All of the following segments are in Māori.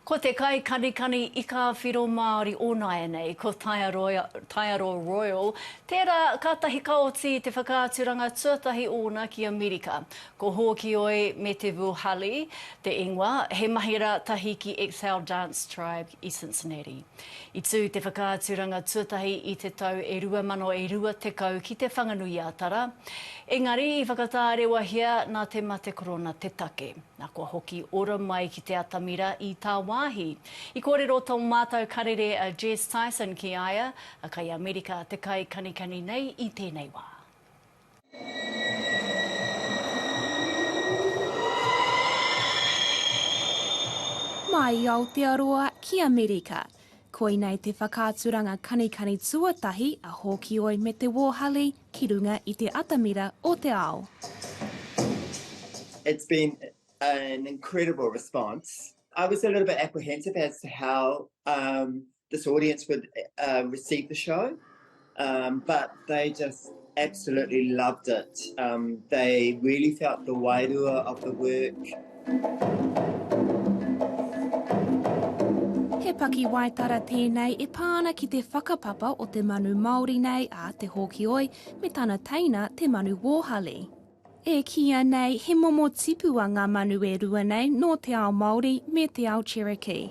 Ko te kaikanikani ika whiro Māori o nāianei, ko Taiaroa, Taiaroa Royal, tērā kātahi ka oti i te whakaaturanga tuatahi ōna ki Amerika. Ko Hōkioi me Te Vuhali te ingoa, he mahi rā tahi ki Exhale Dance Tribe i Cincinnati. I tū te whakaaturanga tuatahi i te tau e rua mano e rua tekau ki Te Whanganui-a-Tara, engari i whakatārewahia nā te mate korona te take. Na kua hoki ora mai ki te atamira i tāwāhi. I kōrero tō mātau karere a Jess Tyson ki a ia, a kai Amerika te kai kanikani nei i tēnei wā. Mai i Aotearoa ki Amerika, Koinei te whakaaturanga kanikani tuatahi a Hōkioi me te Wōhali ki runga i te atamira o te ao. It's been an incredible response. I was a little bit apprehensive as to how this audience would receive the show. Um, but they just absolutely loved it. Um, they really felt the wairua of the work. He paki waitara tēnei e pā ana ki te whakapapa o te manu Māori nei a Te Hōkioi me tana teina Te Manu Wōhali. E kīia nei he momo tipua ngā manu e rua nei nō te ao Māori me te ao Cherokee.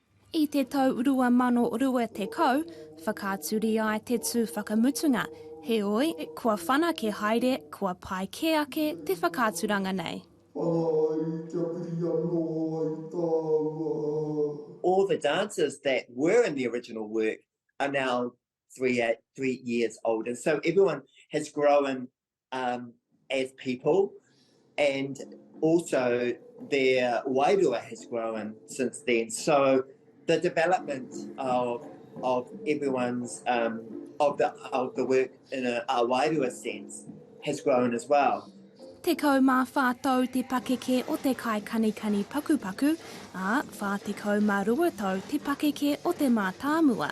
I te tau 2020, whakaaturia ai te tū whakamutunga, heoi, kua whanake haere, kua pai kē ake te whakaaturanga nei. Ana ai kia piri anō ai tāua. All the dancers that were in the original work are now three years old and so everyone has grown um, as people, and also their wairua has grown since then. So the development of of everyone's um, of the of the work in a, a wairua sense has grown as well. Te kau mā whā tau te pakeke o te kai kanikani pakupaku, ā, whā te kau mā rua tau te pakeke o te mātāmua.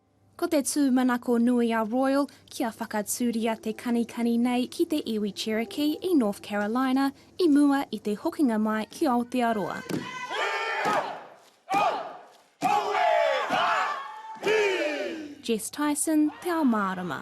Ko te tūmanako nui a Royal kia whakatūria te kanikani nei ki te iwi Cherokee i North Carolina i mua i te hokinga mai ki Aotearoa. Jess Tyson, Te Ao Mārama.